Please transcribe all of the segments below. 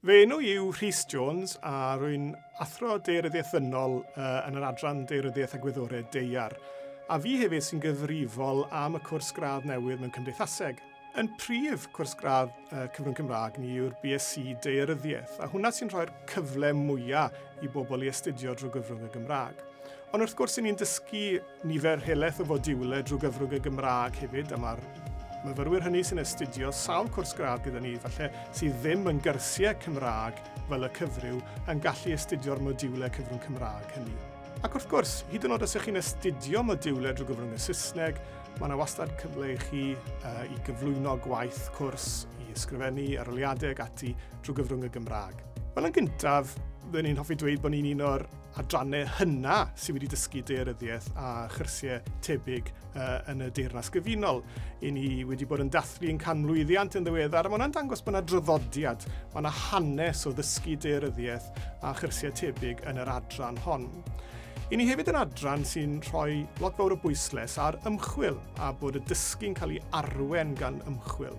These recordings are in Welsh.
Fy enw i yw Rhys Jones a rwy'n Athro Daearyddiaeth Ddynol yn yr Adran Daearyddiaeth a Gwyddorau Deiar, a fi hefyd sy'n gyfrifol am y cwrs gradd newydd mewn Cymdeithaseg. Yn prif cwrs gradd Cyfrwng Cymraeg ni yw'r BSc Daearyddiaeth, a hwnna sy'n rhoi'r cyfle mwyaf i bobl i astudio drwy gyfrwng y Gymraeg. Ond wrth gwrs, ni'n dysgu nifer helaeth o fodiwle drwy gyfrwng y Gymraeg hefyd, a mae'r myfyrwyr hynny sy'n astudio sawl cwrs gradd gyda ni, falle sydd ddim yn gyrsiau Cymraeg fel y cyfryw, yn gallu astudio'r modiwle cyfrwng Cymraeg hynny. Ac wrth gwrs, hyd yn oed os ych chi'n astudio modiwle drwy gyfrwng y Saesneg, mae yna wastad cyfle i chi uh, i gyflwyno gwaith cwrs, i ysgrifennu, aroliadau ag ati drwy gyfrwng y Gymraeg. Wel, yn gyntaf, byddwn ni'n hoffi dweud bod ni'n un o'r adrannau hynna sydd wedi dysgu deiryddiaeth a chyrsiau tebyg uh, yn y Deyrnas Gyfunol. I ni wedi bod yn dathlu yn canmlwyddiant yn ddiweddar, a mae hwnna'n dangos bod yna draddodiad, mae yna hanes o ddysgu deiryddiaeth a chyrsiau tebyg yn yr adran hon. I ni hefyd yn adran sy'n rhoi lot fawr o bwysles ar ymchwil a bod y dysgu'n cael ei arwen gan ymchwil.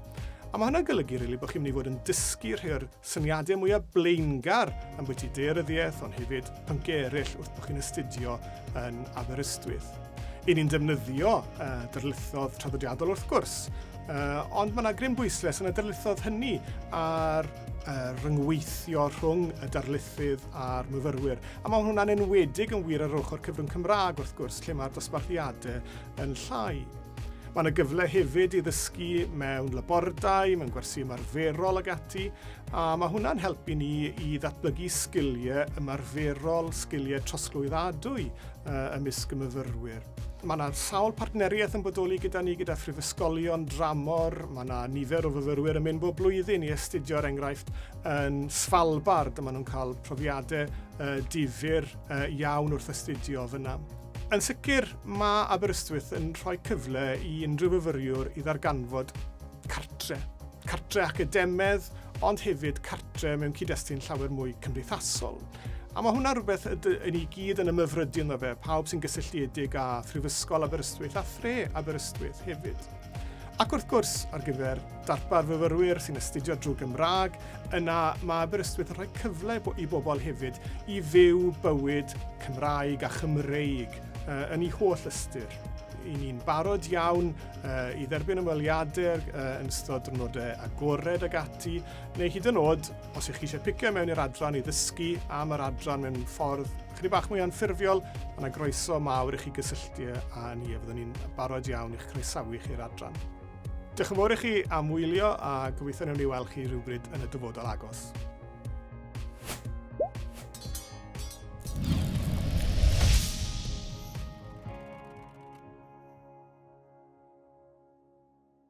A mae hynna'n golygu rili really, bod chi'n mynd i fod yn dysgu rhai o'r Syniadau mwya blaengar ambwyty daearyddiaeth ond hefyd pynciau eraill wrth bod chi'n astudio yn Aberystwyth. Yn ni'n defnyddio uh, darlithoedd traddodiadol wrth gwrs, uh, ond mae yna gryn bwysles yn y darlithoedd hynny ar uh, ryngweithio rhwng y darlithydd a'r myfyrwyr. A mae hwnna'n enwedig yn wir ar ochr cyfrwng Cymraeg wrth gwrs, lle mae'r dosbarthiadau yn llai. Mae yna gyfle hefyd i ddysgu mewn labordai, mewn gwersi ymarferol ag ati, a mae hwnna'n helpu ni i ddatblygu sgiliau ymarferol, sgiliau trosglwyddadwy uh, ymysg y myfyrwyr. Mae yna sawl partneriaeth yn bodoli gyda ni, gyda phrifysgolion dramor. Mae yna nifer o fyfyrwyr yn mynd bob blwyddyn i astudio'r er enghraifft yn Svalbard, a maen nhw'n cael profiadau uh, difyr uh, iawn wrth astudio fyna. Yn sicr, mae Aberystwyth yn rhoi cyfle i unrhyw fyfyriwr i ddarganfod cartre. Cartre academedd, ond hefyd cartre mewn cyd-destun llawer mwy cymdeithasol. A mae hwnna rhywbeth yn ni gyd yn ymyfrydu ynddo fe, pawb sy'n gysylltiedig â Phrifysgol Aberystwyth a thre Aberystwyth hefyd. Ac wrth gwrs, ar gyfer darpar fyfyrwyr sy'n astudio drwy Gymraeg, yna mae Aberystwyth yn rhoi cyfle i bobl hefyd i fyw bywyd Cymraeg a Chymreig yn ei holl ystyr. I ni'n barod iawn i dderbyn ymweliadau yn ystod drwnodau agored ag ati, neu hyd yn oed, os ych chi eisiau picio mewn i'r adran i ddysgu am yr adran mewn ffordd Chydig bach mwy anffurfiol, mae yna groeso mawr i chi gysylltu â ni a fyddwn ni'n barod iawn i'ch croesawu chi i'r adran. Diolch yn fawr i chi am wylio a gobeithio newn ni weld chi rhywbryd yn y dyfodol agos.